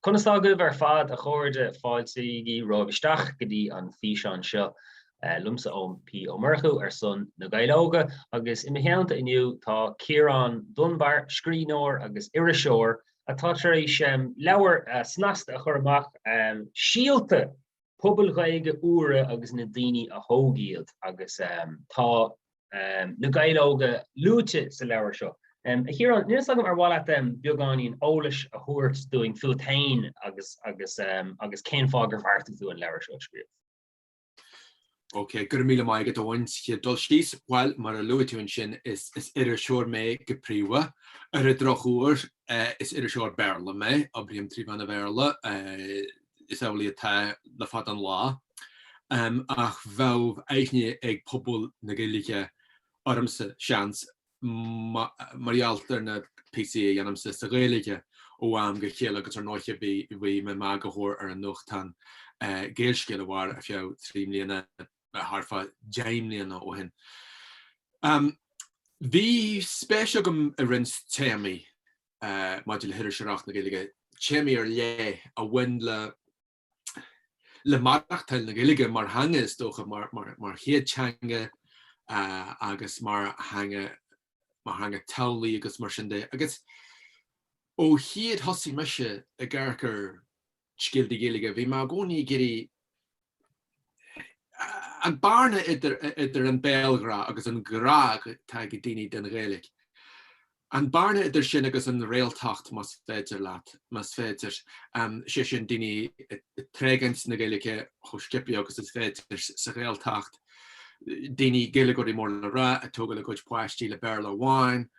Conas tá agaibh ar fad, a chairde? Fáilte is fiche romhaibh isteach go dtí an físeán seo. Liomsa Eoin P. Ó Murchú ar son Na Gaeil Óga agus i mo theannta inniu tá Ciarán Dunbar, scríbhneoir agus iriseoir atá tar éis leabhar snasta a chur amach, Síolta! pobail Ghaeilge úra agus na daoine a thóg iad agus tá na Gaeil óga luaite sa leabhar seo. A Chiarán, níl a fhios agam ar mhaith leat beagáinín eolais a thabhairt dúinn fúat féin agus cén fáth gur bheartaigh tú an leabhar seo a scríobh. Ok, go raibh míle maith agat, Eoin, sa chéad dul síos. Bhuel, mar a luaigh tú ansin, is iriseoir mé go príomha. Ar an drochuair, is iriseoir Béarla mé, oibrím trí mheán an Bhéarla, is amhlaidh atá le fada an lá. Ach bheadh aithne ag pobal na Gaeilge ormsa, seans, mar gheall ar na píosaí a dhéanaimse sa Ghaeilge ó am go chéile agus ar ndóiche bhí mé i m'eagarthóir ar an nuachtán Gaelscéal a mhair ar feadh trí mbliana thart fá deich mbliana ó shin. Bhí spéis agam i roinnt téamaí maidir le hiriseoireacht na Gaeilge, téamaí ar leith a bhain le le maireachtáil na Gaeilge mar theanga, is dócha, mar chéad teanga agus mar theanga teaghlaigh agus mar sin de. Agus ó chéad thosaigh mise ag amharc ar scéaltaí Gaeilge, bhí mé i gcónaí ag iarraidh an bearna idir an béalghrá agus an grá atá ag daoine don Ghaeilge. An bearna idir sin agus an réaltacht, más féidir leat, más féidir, sé sin daoine ag tréigint na Gaeilge chomh sciobtha agus is féidir sa Ghaeltacht, daoine, Gaeilgeoirí mór le rá, ag tógáil a gcuid páistí le Béarla amháin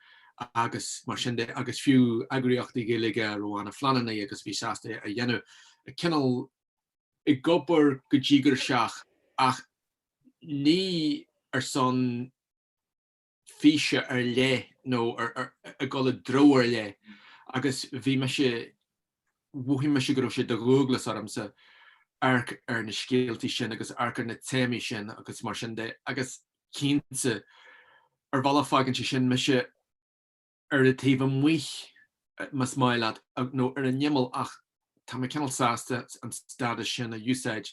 agus mar sin de agus fiú eagraíochtaí Gaeilge a raibh aon phleanáil agus a bhí sásta a dhéanamh cineál ag obair go díograiseach ach ní ar son físe ar leith nó ag dul i dtreo ar leith agus bhí mise, mhothaigh mise go raibh sé de dhualgas ormsa amharc ar na scéaltaí sin agus amharc ar na téamaí sin agus mar sin de agus cinnte, ar bhealach fágann sé sin mise. ar an taobh amuigh más maith leat nó ar an imeall ach tá mé cineál sásta an stádas sin a úsáid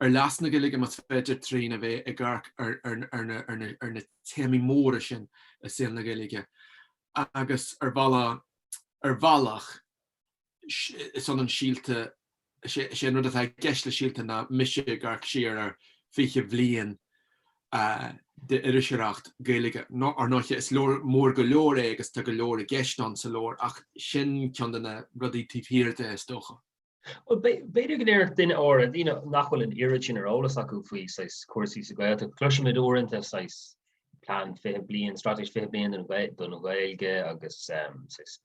ar leas na Gaeilge más féidir trína a bheith ag amharc ar na téamaí móra sin i saol na Gaeilge agus ar bhealach Is ea, Síolta, is é an rud atá i gceist le síolta ná mise ag amharc siar ar 20 bliain d'iriseoireacht Ghaeilge. Ar ndóighe is leabhar mór go leor é agus tá go leor i gceist ann sa leabhar ach sin ceann de na rudaí taobh thiar de is dócha. B'fhéidir go ndéarfadh daoine áirithe, daoine nach bhfuil an oiread sin ar eolas acu faoi chúrsaí sa Ghaeltacht, cloisimid uaireanta plean 20 bliain, straitéis 20 bliain don Ghaeilge agus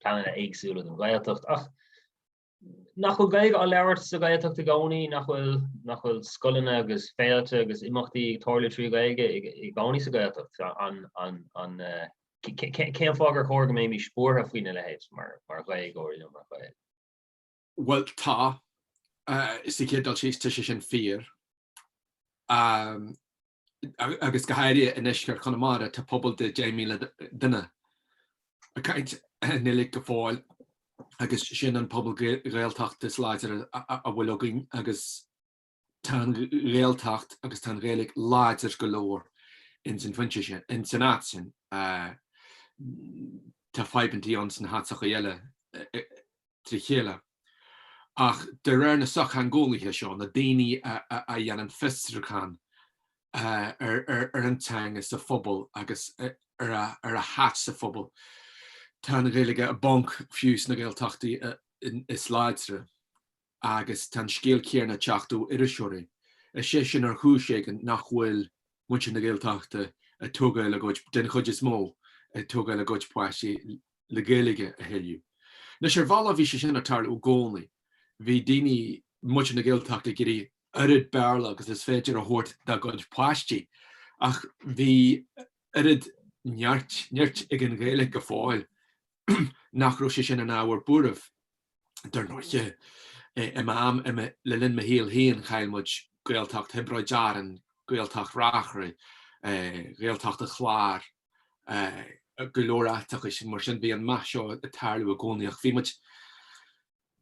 pleananna éagsúla don Ghaeltacht ach nach bhfuil Gaeilge á labhairt sa Ghaeltacht i gcónaí, nach bhfuil scoileanna agus féilte agus imeachtaí ag tarlú trí Ghaeilge i gcónaí sa Ghaeltacht. Cén fáth gur chóir go mbeimis buartha faoina leithéid mar Ghaeilgeoirí nó mar Ghaeil? Bhuel tá, sa chéad dul síos tá sé sin fíor. agus go háirithe i ndeisceart Chonamara tá pobal de 10,000 duine ag caint Gaeilge go fóill agus sin an pobal Gaeltachta is láidre a bhfuil againn agus tá an Ghaeltacht agus tá an Ghaeilge láidir go leor ins an phointe sin, ins an áit sin. Tá fadhbantaí ann sna háiteachaí eile trí chéile. Ach de réir na sochtheangeolaithe seo, na daoine a dhéanann fiosruchán ar an teanga sa phobal agus ar a háit sa phobal, tá an Ghaeilge i bponc fiú sna Gaeltachtaí is láidre. Agus tá an scéal céanna ag teacht ó iriseoirí. Is é sin, ar chúis éigin, nach bhfuil muintir na Gaeltachta ag tógáil a gcuid, den chuid is mó, ag tógáil a gcuid páistí le Gaeilge a thuilleadh. Anois, ar bhealach bhí sé sin ag tarlú i gcónaí. Bhí daoine, muintir na Gaeltachta ag iarraidh oiread Béarla agus is féidir a thabhairt dá gcuid páistí ach bhí oiread neart, nirt ag an Ghaeilge go fóill nach raibh sé sin ina ábhar buairimh. Dar ndóighe, i m'am, le linn mo shaoil féin, chaill muid Gaeltacht Thiobraid Árann, Gaeltacht Reachraidh, Gaeltacht an Chláir, go leor áiteachaí. Mar sin, bhí an meath seo ag tarlú i gcónaí ach bhí muid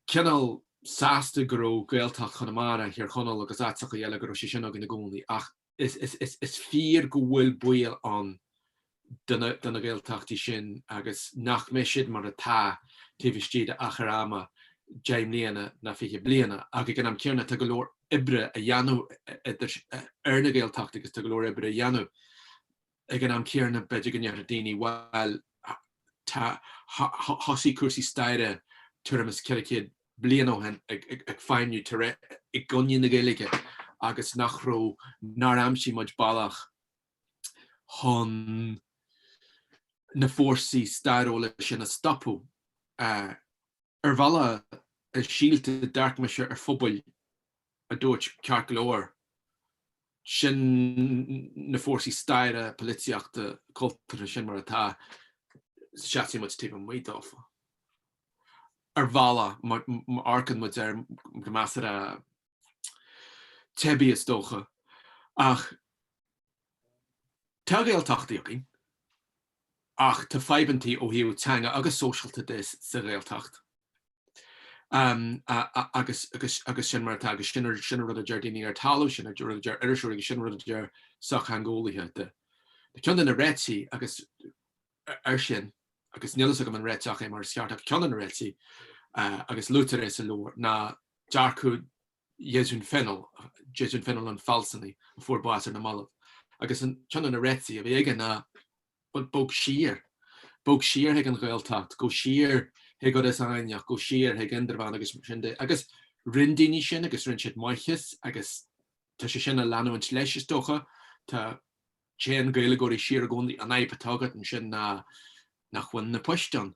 cineál sásta go raibh Gaeltacht Chonamara, Thír Chonaill agus áiteachaí eile, go raibh sé sin againn i gcónaí. Ach is fíor go bhfuil baol ann do na Gaeltachtaí sin agus nach mbeidh siad mar atá taobh istigh de achar ama deich mbliana nó fiche bliana. Ach ag an am céanna, tá go leor oibre á dhéanamh ar na Gaeltachtaí agus tá go leor oibre a dhéanamh. Ag an am céanna, b'fhéidir go ndéarfadh daoine, bhuel, tá, thosaigh cúrsaí staire tuairim is ceithre chéad bliain ó shin ag feidhmniú i gcoinne na Gaeilge agus nach raibh, nár aimsigh muid bealach chun na fórsaí stairiúla sin a stopadh. Ar bhealach, Síolta, dearcaimse ar phobail a dúirt ceart go leor, sin na fórsaí staire, polaitíochta, cultúrtha sin mar atá, seasfaidh muid taobh amuigh dófa. Ar bhealach, má amharcann muid air go measartha teibí is dócha, ach tá Gaeltachtaí againn, ach tá fadhbantaí ó thaobh teanga agus sóisialta de sa Ghaeltacht agus sin mar atá agus sin an rud a deir daoine ar talamh, sin an rud a deir iriseoirí agus sin an rud a deir sochtheangeolaithe de. Tá ceann de na réitigh air sin, agus níl fhios agam an réiteach é mar is ceart, ach ceann de na réitigh agus luaitear é sa leabhar ná dearcadh Deasún Fennell, Deasún Fennell an fealsúnaí a fuair bás ar na mallaibh, agus ceann de na réitigh a bhí aige ná bog siar, bog siar chuig an Ghaeltacht, go siar chuig Iorras Aithneach, go siar chuig Indreabhán agus sin de. Agus rinn daoine sin agus rinn siad maitheas agus tá sé sin a leanúint leis is dócha. Tá. Téann Gaeilgeoirí siar i gcónaí. An fhadhb atá agat ansin ná nach bhfuil na poist ann.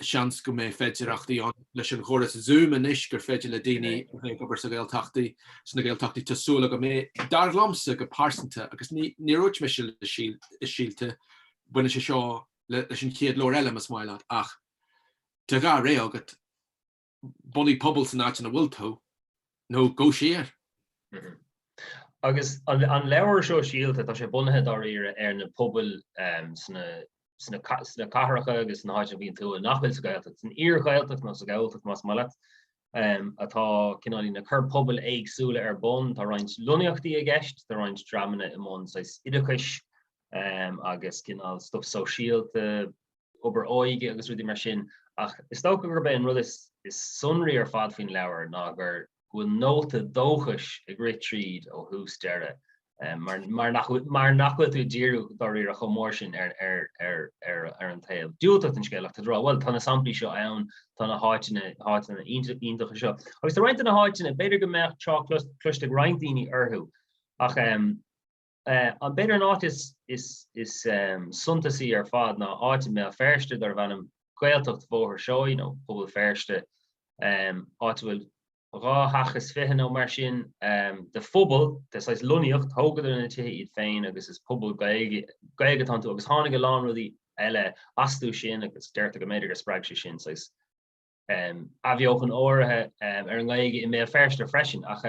Seans go mbeidh féidearthachtaí ann leis an gcóras Zoom anois gur féidir le daoine a bheith ag obair sa Ghaeltachtaí, sna Gaeltachtaí, tá súil agam go mbeidh. Dar liomsa go pearsanta, agus níor úirt mise i Síolta, baineann sé seo leis an chéad leabhar eile, más maith leat, ach tá dhá réiteach agat, Bunaigh pobal san áit ina bhfuil tú, nó go siar. Agus an leabhar seo Síolta, tá sé bunaithe dáiríre ar na pobail sna cathracha agus sna háiteanna a bhíonn tú nach bhfuil sa Ghaeltacht, san iar-Ghaeltacht nó sa Ghalltacht más maith leat, atá cineál i ndiaidh na cur pobail éagsúla ar bun. Tá roinnt lonnaíochtaí i gceist, tá roinnt dreamanna i mbun saghas oideachais agus cineál stuif sóisialta, obair óige agus rudaí mar sin, ach is dócha gurb é an rud is sonraí ar fad faoin leabhar ná go bhfuil nóta dóchais ag rith tríd ó thús deireadh, mar nach bhfuil tú ag díriú dáiríre chomh mór sin ar an taobh diúltach den scéal ach tá tú ag rá, bhuel, tá na samplaí seo ann, tá na háiteanna iontacha seo. Agus tá roinnt de na háiteanna, b'fhéidir go mbeadh trácht cloiste ag roinnt daoine orthu, ach. An b'fhéidir an áit is suntasaí ar fad ná áit i mBéal Feirste darbh ainm Gaeltacht Bhóthar Seoighe nó Pobal Feirste, áit a bhfuil 22 theach nó mar sin de phobal, saghas lonnaíocht, thógadar na tithe iad féin agus is pobal Gaeilge atá iontu agus tháinig a lán rudaí eile astu sin agus deirtear go mb'fhéidir gur spreag sé sin saghas athbheochan áirithe ar an nGaeilge i mBéal Feirste freisin ach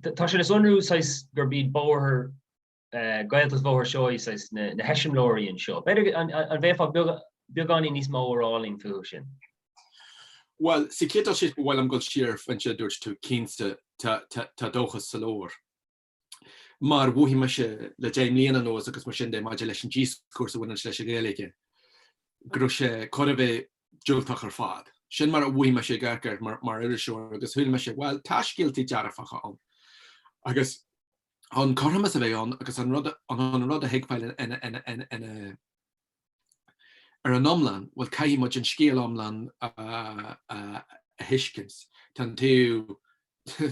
tá sé le sonrú saghas gurb iad Bóthar Gaeltacht Bhóthar Seoighe saghas na heiseamláirí anseo. B'fhéidir an bhféadfá beagáinín níos mó a rá linn fúthu sin? Bhuel, sa chéad dul síos, ba mhaith liom dul siar ar an rud a dúirt tú, cinnte, tá dóchas sa leabhar. mar mhothaigh mise le deich mbliana anuas agus mar sin de maidir leis an díoscúrsa a bhaineann leis an Ghaeilge, go raibh sé chóir a bheith diúltach ar fad. Sin mar a mhothaigh mise ag amharc air mar iriseoir agus shíl mise, bhuel, tá scéaltaí dearfacha ann agus an cothromas a bheith ann agus an rud an rud a thuigbheáil ina ar an iomlán, bhuel, caithfidh muid an scéal iomlán a thuiscint. Tá an taobh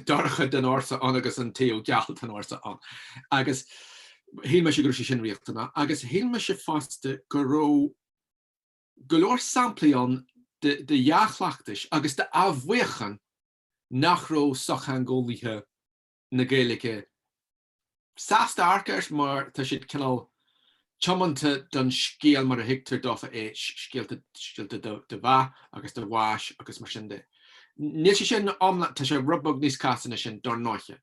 dorcha den fhórsa ann agus an taobh geal den fhórsa ann. Agus shíl mise go raibh sé sin riachtanach. Agus shíl mise fosta go raibh go leor samplaí ann de dhea-chleachtais agus d'athbheochan nach raibh sochtheangeolaithe na Gaeilge sásta amharc air mar tá siad cineál tiomanta don scéal mar a thuigtear dófa é, scéalta, scéalta de, de mheath agus de bhás agus mar sin de. Níl sé sin iomlán, tá sé rud beag níos casta ná sin, dár ndóiche.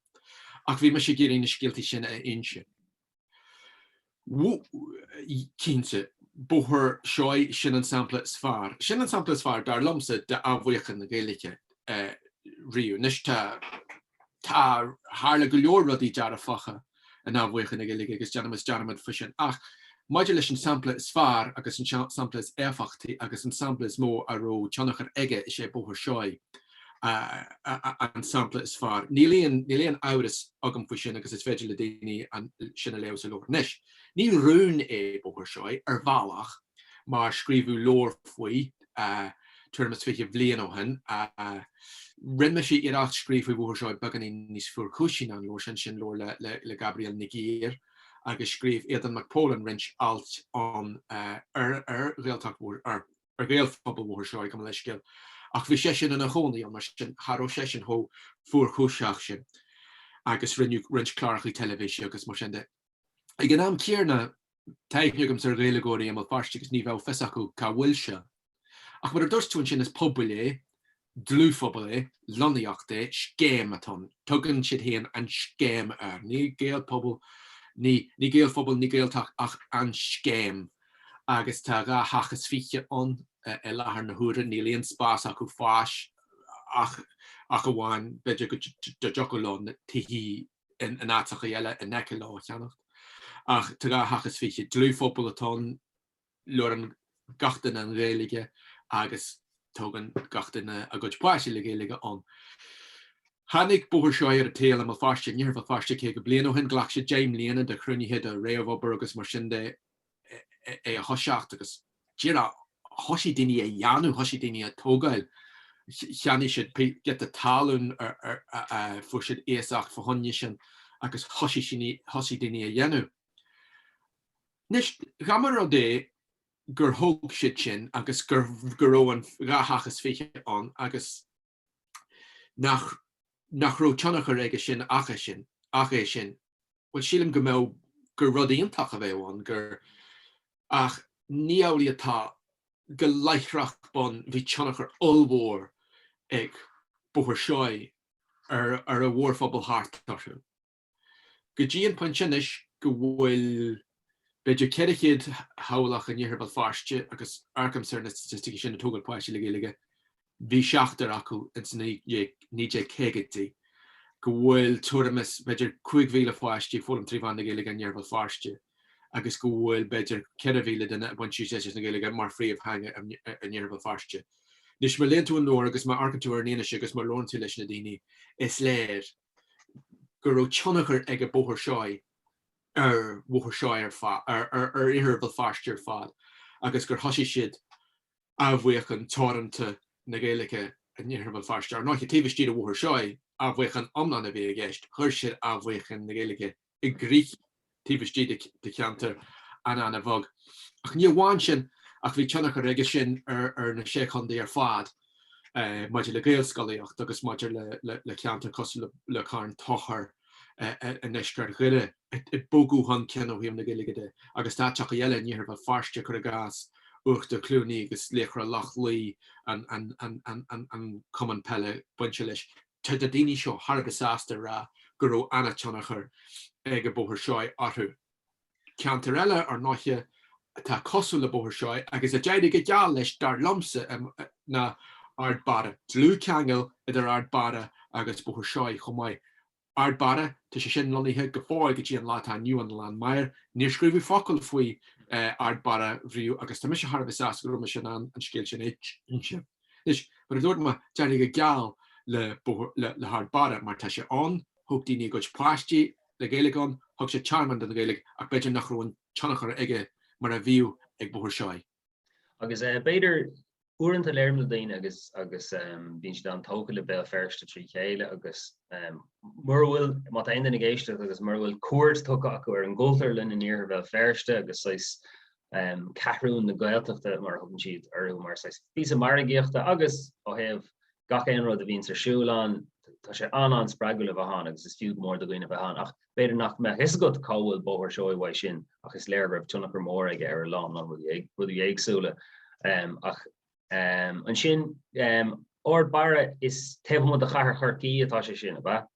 Ach bhí mise ag iarraidh na scéaltaí sin a inse. Cinnte, Bóthar Seoighe, sin an sampla is fearr, sin an sampla is fearr, dar liomsa, d'athbheochan na Gaeilge riamh. Anois, tá, tá, tharla go leor rudaí dearfacha in athbheochan na Gaeilge agus déanaimis dearmad faoi sin. Ach maidir leis an sampla is fearr agus an sampla is éifeachtaí agus an sampla is mó a raibh tionchar aige, is é Bóthar Seoighe. an sampla is fearr. Níl aon amhras agam faoi sin agus is féidir le daoine sin a léamh sa leabhar. Anois, ní rún é Bóthar Seoighe, ar bhealach, mar scríobhadh leabhar faoi tuairim is fiche bliain ó shin. Rinne mise iarracht scríobh faoi Bhóthar Seoighe beagáinín níos fuarchúisí ná an leabhar sin, sin leabhar le Gabrielle Nig Uidhir, agus scríobh Aodán Mac Póilin roinnt alt ann ar Ghaeltacht Bhóthar Seoighe. ar Ghaelphobal Bhóthar Seoighe, gabh mo leithscéal, ach bhí seisean ina chónaí ann, mar sin cha raibh seisean chomh fuarchúiseach sin, agus rinneadh roinnt cláracha teilifíse agus mar sin de. Ag an am céanna, tá aithne agamsa ar Ghaeilgeoirí i mBéal Feirste agus ní bheadh fios acu cá bhfuil sé. Ach mar a dúirt tú ansin, is pobal é dlúthphobal é, lonnaíocht é, scéim atá ann. Tugann siad féin an scéim air. Ní Gaelphobal, ní, ní Gaelphobal, ní Gaeltacht ach an scéim. Agus tá dhá theach is fiche ann i láthair na huaire. Níl aon spás acu fáis ach, ach amháin, b'fhéidir go dtiocfadh leo na tithe in áiteachaí eile in aice leo a cheannacht. Ach tá dhá theach is fiche. Dlúthphobal atá ann. Labhrann gach duine an Ghaeilge agus tógann gach duine a gcuid páisti le Gaeilge ann. Tháinig Bóthar Seoighe ar an tsaol i mBéal Feirste, in Iarthar Bhéal Feirste 50 bliain ó shin, ghlac sé 10 mbliana de chruinnithe, de réamhobair agus mar sin de é a thoiseacht agus díreach thoisigh daoine á dhéanamh, thoisigh daoine á tógáil, cheannaigh siad giota talún, fuair siad iasacht, fá choinne sin agus thoisigh daoine á dhéanamh. Anois, dhá mba rud é gur thóg siad sin agus go raibh an dhá theach is fiche ann agus nach raibh tionchar aige sin ach é sin, bhuel, sílim go mbeadh, gur rud iontach a bheadh ann, gur, ach ní amhlaidh atá, go láithreach bonn bhí tionchar ollmhór ag Bóthar Seoighe ar an mhórphobal thart orthu. go dtí an pointe anois go bhfuil b'fhéidir 400 theaghlach in Iarthar Bhéal Feirste agus amharcaimse ar na staitisticí sin ag tógáil páistí le Gaeilge, bhí seachtar acu ins na 1950idí, go bhfuil tuairim is b'fhéidir 5,000 pháistí ag foghlaim trí mheán na Gaeilge in Iarthar Bhéal Feirste agus go bhfuil b'fhéidir 4,000 duine ag baint úsáid as an Ghaeilge mar phríomhtheanga in Iarthar Bhéal Feirste. Anois, má léann tú an leabhar agus má amharcann tú ar an fhianaise agus má labhrann tú leis na daoine, is léir, go raibh tionchar ag an Bóthar Seoighe ar Bhóthar Seoighe ar fad, ar Iarthar Bhéal Feirste ar fad agus gur thosaigh siad athbheochan teoranta na Gaeilge in Iarthar Bhéal Feirste. Ar ndóiche, taobh istigh de Bhóthar Seoighe, athbheochan iomlán a bhí i gceist, chuir siad athbheochan na Gaeilge i gcrích taobh istigh de cheantar an-an-bheag. Ach ní amháin sin ach bhí tionchar aige sin ar na Sé Chontae ar fad maidir le Gaelscolaíocht agus maidir le ceantair cosúil le Carn Tóchair i ndeisceart Dhoire ag bogadh chun cinn ó thaobh na Gaeilge de agus tá áiteachaí eile in iarthar Bhéal Feirste, cur i gcás, Uachtar Chluanaí agus Laochra Loch Lao, an cumann peile bainte leis. Tá na daoine seo thar a bheith sásta a rá go raibh an-tionchar ag an Bóthar Seoighe orthu. Ceantar eile, ar ndóiche, atá cosúil le Bóthar Seoighe, agus a d'éirigh go geal leis, dar liomsa, ná Ard Barra. Dlúthcheangal idir Ard Barra agus Bóthar Seoighe chomh maith. Ard Barra, tá sé sin lonnaithe go fóill go dtí an lá atá inniu ann i nGleann Maghair. Níor scríobhadh focal faoi Ard Barra riamh agus tá mise thar a bheith sásta go raibh mise in ann an scéal sin a inse. Anois, mar a dúirt mé, d'éirigh go geal le hArd Barra, mar tá sé ann, thug daoine a gcuid páistí le Gaeilge ann, thug sé tearmann don Ghaeilge, ach b'fhéidir nach raibh an tionchar aige mar a bhíodh ag Bóthar Seoighe. Agus b'fhéidir, uaireanta labhraím le daoine agus agus bíonn siad an-tógtha le Béal Feirste trí chéile agus mura bhfuil, má tá aon duine ag éisteacht agus mura bhfuil cuairt tugtha acu ar an gCultúrlann in iarthar Bhéal Feirste agus saghas Ceathrún na Gaeltachta, mar a thugann siad air, mar saghas píosa margaíochta agus, ó thaobh gach aon rud a bhíonns ar siúl ann, tá sé an-an-spreagúil a bheith ann agus is fiú go mór do dhaoine a bheith ann. Ach b'fhéidir nach mbeadh fhios agat cá bhfuil Bóthar Seoighe uaidh sin ach is léir go raibh tionchar mór aige ar a lán lán rudaí éagsúla. Ach ansin, Ard Barra, is taobh amuigh de chathair Chorcaí atá sé sin, ab ea?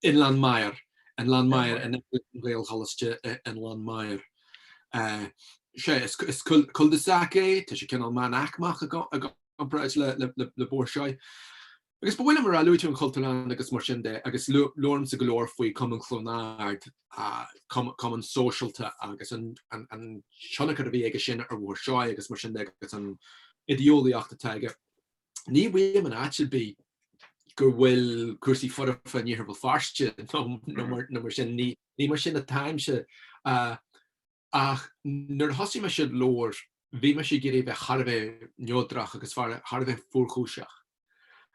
I nGleann Maghair. I nGleann Maghair, in aice le Gaelcholáiste i nGleann Maghair. Sea, is cul-de-sac é, tá sé cineál meánaicmeach i gcomparáid le Bóthar Seoighe. Agus ba mhaith liom a rá, luaigh tú an Chultúrlann agus mar sin de, agus labhraimse go leor faoi Cumann Chluain Ard, cumann sóisialta, agus an tionchar a bhí aige sin ar Bhóthar Seoighe agus mar sin de, agus an idéolaíocht atá aige. Ní mhaím in áit ar bith go bhfuil cúrsaí foirfe in Iarthar Bhéal Feirste nó mar sin, ní mar sin atáimse, ach nuair a thosaigh mise an leabhar, bhí mise ag iarraidh a bheith thar a bheith neodrach agus thar a bheith fuarchúiseach.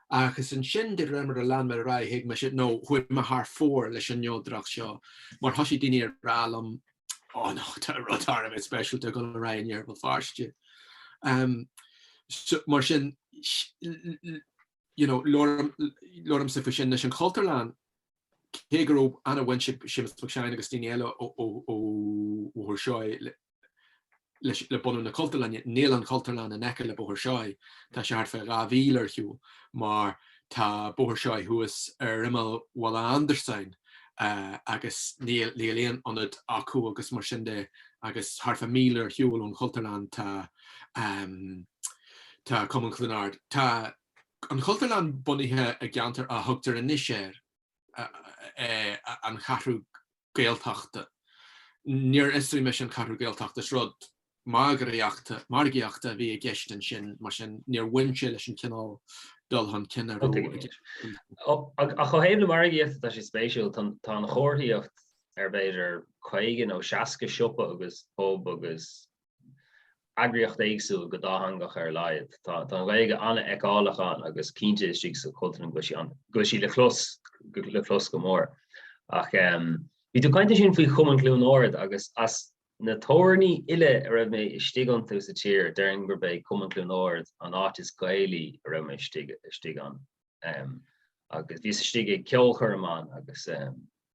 Agus ansin, de réir mar a lean mé ar aghaidh, thuig mise, nó chuaigh mé thar fóir leis an neodracht seo, mar thoisigh daoine ag rá liom oh no, tá rud thar a bheith speisialta ag gabháil ar aghaidh in Iarthar Bhéal Feirste. Um, so, mar sin, you know, labhraimse faoi sin leis an Cultúrlann, cé go raibh an-bhaint ag Séamus Mac Seáin agus daoine eile ó Bhóthar Seoighe le bunú na Cultúrlainne. Níl an Chultúrlann in aice le Bóthar Seoighe, tá sé thart fé dhá mhíle ar shiúl, mar tá Bóthar Seoighe thuas ar imeall Bhaile Andarsáin agus níl aon ionad acu agus mar sin de agus thart fá míle ar shiúl ón Chultúrlann tá Cumann Chluain Ard. Tá an Chultúrlann bunaithe i gceantar a thugtar anois air An Cheathrú Gaeltachta. Níor fhiosraigh mise an Ceathrú Gaeltachta, is rud margaíochta a bhí i gceist ansin, mar sin níor bhain sé leis an chineál dul chun cinn a raibh. Ach ó thaobh na margaíochta tá sé spéisiúil, tá an chomharthaíocht ar b'fhéidir 50 nó 60 siopa agus pub agus eagraíocht éagsúil go dátheangach ar a laghad. Tá an Ghaeilge an-fheiceálach ann agus cinnte istigh sa Chultúrlann go bhfuil sí le clos, le clos go mór. Ach bhí tú ag caint ansin faoi Chumann Chluain Ard agus as na tabhairní uile a raibh mé istigh iontu sa tír déarfainn gurb é Cumann Chluain Ard an áit is Gaelaí a raibh mé istigh ann. Agus bhíos istigh ag ceolchoirm ann agus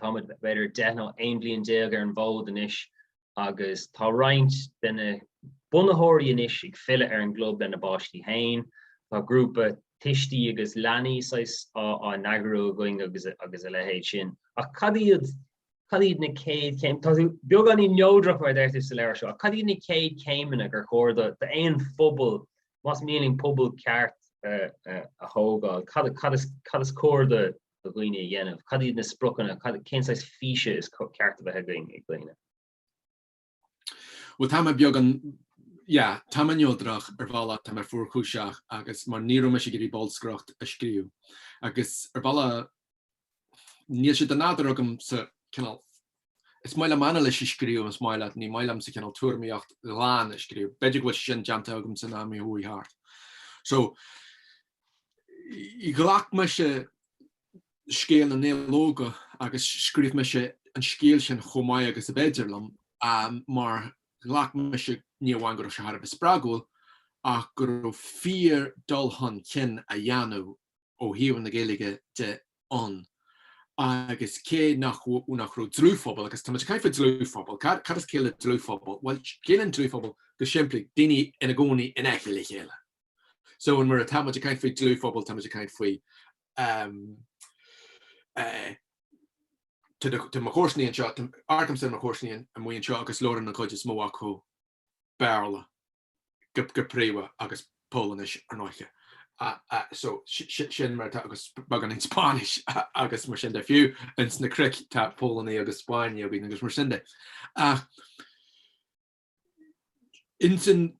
Táimid b'fhéidir deich nó aon bhliain déag ar an bhfód anois agus tá roinnt de na bunaitheoirí anois ag filleadh ar an gclub lena bpáistí féin. Tá grúpa tuistí agus leanaí saghas á n-eagrú againn agus a leithéid sin. Ach cad iad, cad iad na céad céim-, tá tú beagáinín neodrach mar a deirtear sa leabhar seo, ach cad iad na céad céimeanna gur chóir d'aon phobal, más mian linn pobal ceart a thógáil, cad is cóir do do dhaoine a dhéanamh? Cad iad na spriocanna? Cén saghas físe is ceart a bheith ag daoine? Bhuel, tá mé beagán, yeah, tá mé neodrach, ar bhealach, tá mé fuarchúiseach agus mar ní raibh mise ag iarraidh bolscaireacht a scríobh agus ar bhealach níl sé den nádúr agamsa, cineál, Is maith liom anailís a scríobh, is maith leat, ní maith liomsa cineál tuairimíocht ghlan a scríobh. B'fhéidir go bhfuil sé sin déanta agamsa in am a chuaigh thart. So, ghlac mise scéal na Gaeil Óga agus scríobh mise an scéal sin chomh maith agus ab fhéidir liom, mar ghlac mise ní amháin go raibh sé thar a bheith spreagúil, ach go raibh fíor dul chun cinn á dhéanamh ó thaobh na Gaeilge de ann agus cé nach raibh dlúthphobal, agus táimid ag caint faoi dlúthphobal, cad is ciall le dlúthphobal? Bhuel, ciallaíonn dlúthphobal go simplí, daoine ina gcónaí in aice le chéile. So nuair atáimid ag caint faoi dlúthphobal, táimid ag caint faoi, tá mo chomharsanaí anseo, amharcaimse ar mo chomharsanaí amuigh anseo agus labhraíonn an chuid is mó acu Béarla go príomha agus Polainnis, ar ndóiche. So, sin mar atá agus beagán Spáinnis agus mar sin de. Fiú ins na cnoic tá Polannaigh agus Spáinnigh againn agus mar sin de. Ach ins an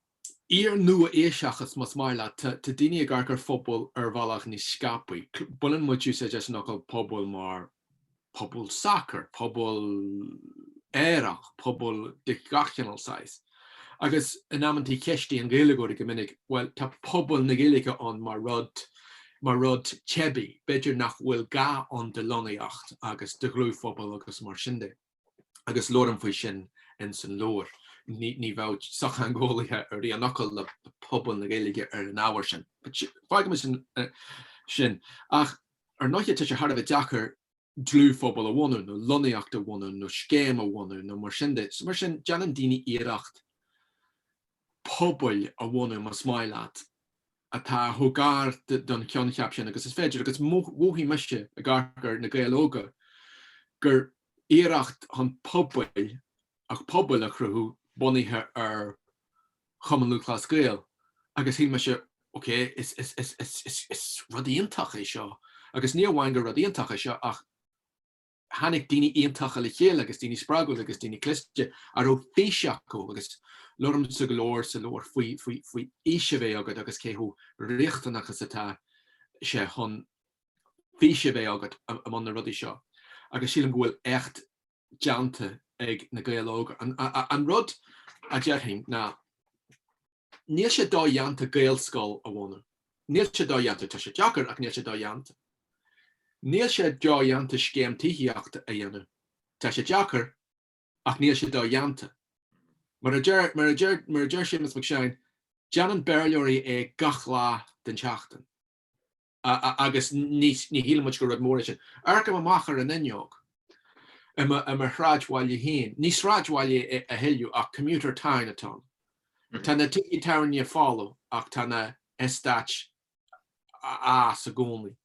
iar-nua-aoiseachas, más maith leat, tá daoine ag amharc ar phobail ar bhealach níos scaipthe. Baineann muid úsáid as an fhocal 'pobal' mar pobal sacair, pobal aerach, pobal de gach chineál saghas. Agus in amantaí ceistíonn Gaeilgeoirí go minic, 'Bhuel, tá pobal na Gaeilge ann mar rud, mar rud teibí, b'fhéidir nach bhfuil gá ann do lonnaíocht agus do dhlúthphobal agus mar sin de. Agus labhraím faoi sin in san leabhar. Ní bheadh sochtheangeolaithe ar aon fhocal le pobal na Gaeilge ar an ábhar sin. Fágaimis sin. Ach. Ar ndóighe, tá sé thar a bheith deacair dlúthphobal a bhunú, nó lonnaíocht a bhunú, nó scéim a bhunú, nó mar sin de. So mar sin, déanann daoine iarracht pobail a bhunú, más maith leat, atá chomh gar don choincheap sin agus is féidir. Agus mhothaigh mise, ag amharc ar Na Gaeil Óga, gur iarracht chun pobail, ach pobail a chruthú bunaithe ar Chumann Lúthchleas Gael agus shíl mise, OK, is rud iontach é seo agus ní amháin gur rud iontach é seo ach tháinig daoine iontacha le chéile agus daoine spreagúla agus daoine cliste a raibh fís acu agus labhraimse go leor sa leabhar faoi fhís a bheith agat agus cé chomh riachtanach is atá sé chun fís a bheith agat i mbun na rudaí seo. Agus sílim go bhfuil éacht déanta ag Na Gaeil Óga. An rud a déarfainn ná níl sé dodhéanta Gaelscoil a bhunú. Níl sé dodhéanta. Tá sé deacair ach níl sé dodhéanta. Níl sé dodhéanta scéim tithíochta a dhéanamh. Tá sé deacair ach níl sé dodhéanta. Mar a deir, mar a deir, mar a deir Séamus Mac Seáin, déanann Béarlóirí é gach lá den tseachtain. agus ní shíleann muid gur rud mór é sin. Amharcaim amach ar an fhuinneog i mo shráidbhaile féin. Ní sráidbhaile é a thuilleadh ach commuter town atá ann. Tá na tithe tábhairne folamh ach tá na heastáit ag fás i gcónaí.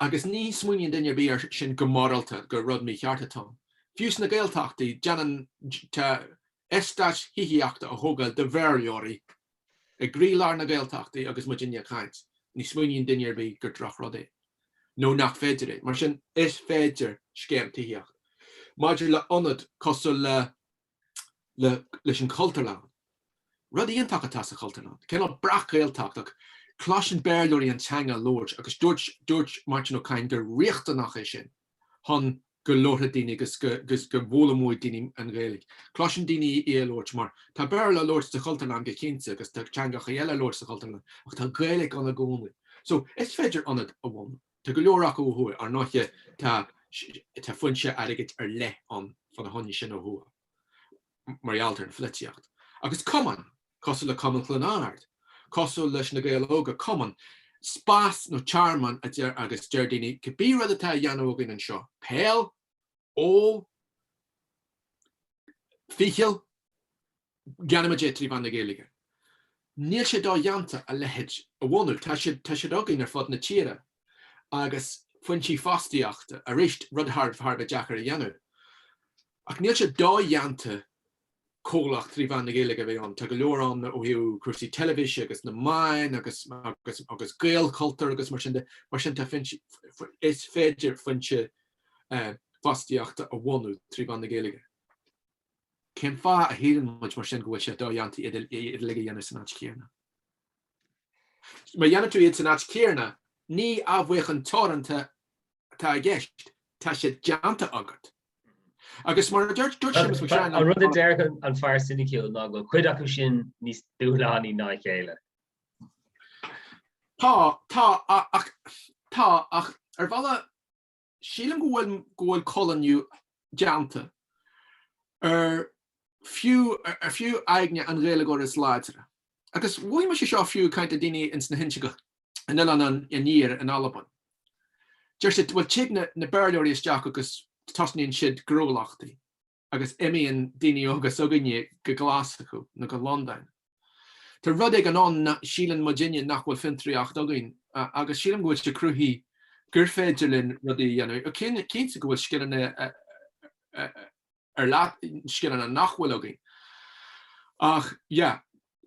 Agus ní smaoiníonn duine ar bith air sin go morálta, gur rud mícheart atá ann. Fiú sna Gaeltachtaí, déanann. eastáit thithíochta a thógáil do Bhéarlóirí i gcroílár na Gaeltachtaí agus muidinne ag caint, ní smaoiníonn duine ar bith gur drochrud é, nó nach féidir é. Mar sin, is féidir scéim tithíochta maidir le ionad cosúil le le leis an Chultúrlann. Rud iontach atá sa Chultúrlann, cineál breac-Ghaeltacht ach cloiseann Béarlóirí an teanga á labhairt agus dúirt dúirt Máirtín Ó Cadhain gur riachtanach é sin chun go labharfaidh daoine agus go bhfoghlaimeoidh daoine an Ghaeilge. Cloiseann daoine í á labhairt mar tá Béarla á labhairt sa Chultúrlann go cinnte agus tá teangacha eile á labhairt sa Chultúrlann ach tá Gaeilge ann i gcónaí. So, is féidir ionad a bhunú. Tá go leor acu ó thuaidh. Ar ndóiche, tá foinse airgid ar leith ann fá na hionaid sin ó thuaidh. mar gheall ar an pholaitíocht, agus cumainn cosúil le Cumann Chluain Árd, cosúil leis Na Gaeil Óga, cumann, spás nó tearmann, a deir agus deir daoine, cibé rud atá á dhéanamh againn anseo, peil, ól, ficheall, déanaimid é trí mheán na Gaeilge. Níl sé dodhéanta a leithéid a bhunú, tá siad againn ar fud na tíre, agus foinsí fostaíochta, arís, rud thar a bheith deacair a dhéanamh. Ach níl sé dodhéanta comhlacht trí mheán na Gaeilge a bheith ann. Tá go leor ann ó thaobh cúrsaí teilifíse agus na meáin agus agus agus Gaelchultúr agus mar sin de. Mar sin tá is féidir foinse eh, fostaíochta a bhunú trí mheán na Gaeilge. Cén fáth a shíleann muid mar sin go bhfuil sé dodhéanta iad uilig a dhéanamh san áit chéanna. Mura ndéanann tú iad san áit chéanna, ní athbheochan teoranta atá i gceist, tá sé déanta agat. Agus mar a dúirt Séamus Mac Seáin, an rud a deir an fear ciniciúil ná go bhfuil cuid acu sin níos dúshlánaí ná a chéile. Tá, tá, ach, tá, ach ar bhealach, sílim go bhfuil, go bhfuil coilíniú déanta ar fiú, ar fiú aigne an Ghaeilgeoiris láidir. Agus mhothaigh mise seo fiú ag caint le daoine ins na hInse Gall in Oileáin an Iarthair in Albain. Deir siad bhuel tig na Béarlóirí isteach agus tosnaíonn siad gnólachtaí agus imíonn daoine óga s'againne go Glaschú nó go Londain. Tá rud éigin ann a shíleann muidinne nach bhfuil fiontraíocht againn agus sílim go bhfuil sé cruthaithe gur féidir linn rudaí a dhéanamh. Cinnte go bhfuil scileanna ar leith, scileanna nach bhfuil againn. Ach, yeah,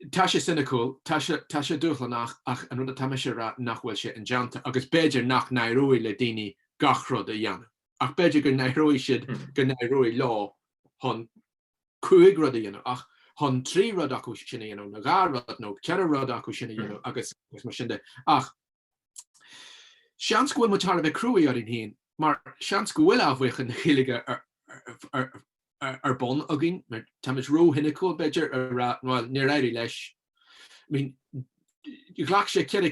tá sé ciniciúil, tá sé, tá sé dúshlanach ach an rud atá mise a rá nach bhfuil sé indéanta agus b'fhéidir nach n-éireoidh le daoine gach rud a dhéanamh. Ach b'fhéidir go n-éireoidh siad, hmm. go n-éireoidh leo chan cúig rud a dhéanamh ach chun trí rud acu sin a dhéanamh nó dhá rud nó ceithre rud acu sin a hmm. dhéanamh agus mar sin de. Ach Seans go bhfuil muid thar a bheith cruaidh orainn féin, mar seans go bhfuil athbheochan na Gaeilge ar bun againn, mar tá muid róchiniciúil, b'fhéidir, a rá, bhuel, níor éirigh leis. I mean, ghlac sé ceithre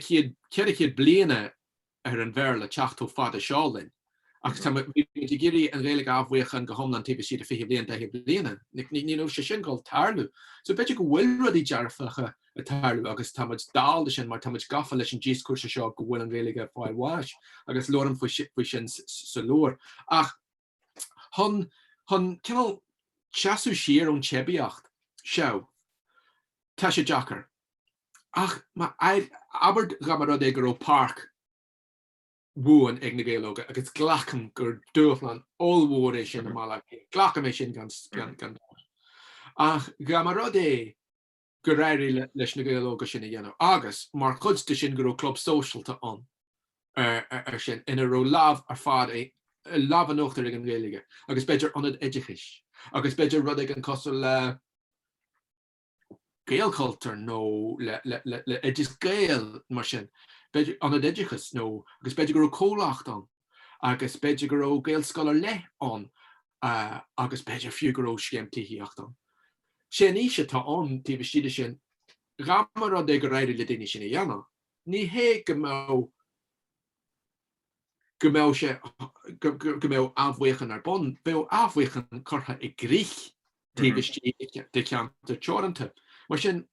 chéad bliain ar an Bhéarla teacht chomh fada seo linn. Ach tá muid ag iarraidh an Ghaeilge a athbheochan go hiomlán taobh istigh de 20 bliain, 40 bliain. Níl sé sin ag gabháil a tharlú. So b'fhéidir go bhfuil rudaí dearfacha ag tarlú agus tá muid dall dó sin mar tá muid gafa leis an díoscúrsa seo go bhfuil an Ghaeilge ag fáil bháis agus labhraím faoi sin sa leabhar. Ach chun, chun cineál seasamh siar ón teibíocht seo, tá sé deacair. Ach abair dá mba rud é go raibh páirc, bhuan ag Na Gaeil Óga agus glacaim gur dúshlán ollmhór é sin i mBaile Átha Cliath. Glacaim é sin gan dabht. Ach dá mba rud é gur éirigh leis na Gaeil Óga sin a dhéanamh agus, mar chuid de sin, go raibh club sóisialta ann ansin ina raibh lámh ar fad, lámh in uachtar ag an Ghaeilge agus b'fhéidir ionad oideachais agus b'fhéidir rud éigin cosúil le, Gaelchultúr nó le le Oideas Gael mar sin, b'fhéidir Ionad Oideachais nó agus b'fhéidir go raibh comhlacht ann agus b'fhéidir go raibh Gaelscoil ar leith ann agus b'fhéidir fiú go raibh scéim tithíochta ann. Sé an fhís atá ann taobh istigh de sin, dhá mba rud é gur éirigh le daoine sin a dhéanamh, ní hé go mbeadh, go mbeadh sé, go mbeadh athbheochan ar bun. Bheadh athbheochan curtha i gcrích taobh istigh de cheantar teoranta. Mar sin,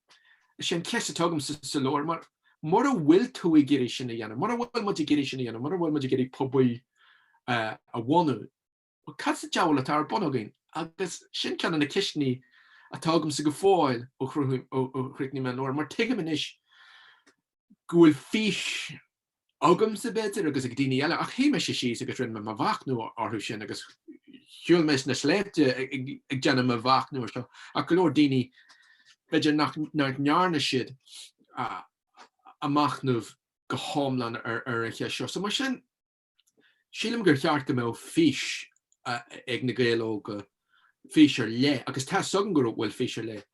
is é an cheist atá agam sa leabhar, mura bhfuil tú ag iarraidh sin a dhéanamh, mura bhfuil muid ag iarraidh sin a dhéanamh, mura bhfuil muid ag iarraidh pobail a bhunú, Bhuel, cad sa diabhal atá ar bun againn? Agus sin ceann de na ceisteanna atá agamsa go fóill ó chríochnaigh mé an leabhar, mar tuigim anois go bhfuil fís agamsa, b'fhéidir, agus ag daoine eile, ach shuigh mise síos agus rinne mo mhachnamh orthu sin agus shiúil mé sna sléibhte ag déanamh mo mhachnamh air seo, ach go leor daoine, b'fhéidir nach ndearna, ndearna siad a machnamh go hiomlán ar an cheist seo. So mar sin, Sílim gur cheart go mbeadh fís ag Na Gaeil Óga, fís ar leith, agus tá 's agam go bhfuil fís ar leith,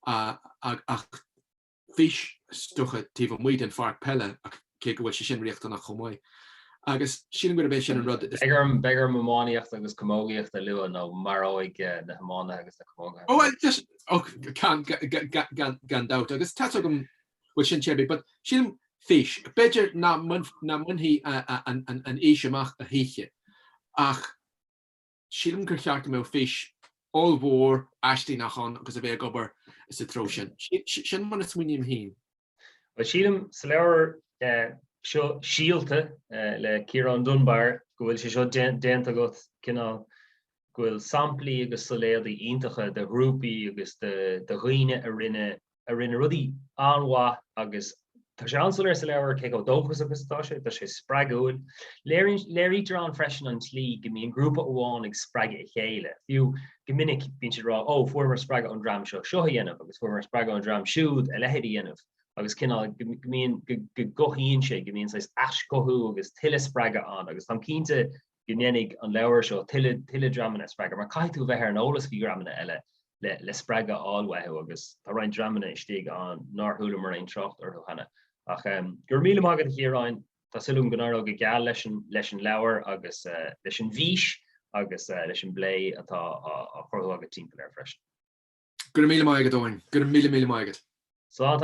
ach fís is dócha taobh amuigh den pháirc peile, cé go bhfuil sé sin riachtanach chomh maith. Agus sílim gurb é sin an rud. Beidh orm iománaíocht agus camógaíocht a lua nó maróidh na hiománaithe agus na camóga. Ó bhuel, just, och, gan dabht, agus tá 's agam go bhfuil sin, tá a fhios agat, but, sílim, fís, b'fhéidir nach mbainfí an fhís amach choíche, ach sílim gur cheart go mbeadh fís ollmhór aislingeach ann agus a bheith ag obair sa treo sin. Sin mar a smaoiním féin. Bhuel, sílim, sa leabhar seo Síolta le Ciarán Dunbar, go bhfuil sé seo déanta agat, cineál, go bhfuil samplaí agus solaoidí iontacha de ghrúpaí agus de dhaoine a rinne a rinne rudaí an-mhaith agus tá sé an-soiléir sa leabhar cé chomh dóchasach is atá sé, tá sé spreagúil. Léirítear ann freisin an tslí go mbíonn grúpa amháin ag spreagadh a chéile. Fiú go minic bíonn siad ag rá ó fuaireamar spreagadh ón dream seo seo a dhéanamh agus fuaireamar spreagadh ón dream siúd a leithéid a dhéanamh agus cineál go mbíonn go gcothaíonn sé go mbíonn saghas aischothú agus tuilleadh spreagadh ann agus táim cinnte go ndéanfaidh an leabhar seo tuilleadh dreamanna a spreagadh, mar caithfidh tú a bheith ar an eolas faoi dhreamanna eile le spreagadh a fháil uathu agus tá roinnt dreamanna istigh ann nár chualamar aon trácht orthu cheana. Ach go raibh míle maith agat, a Chiaráin, tá súil agam go n-éireoidh go geal leis an leabhar agus leis an bhfís agus leis an bplé atá á chruthú agat timpeall air freisin. Go raibh míle maith agat, Eoin. Go raibh míle míle maith agat. Slán.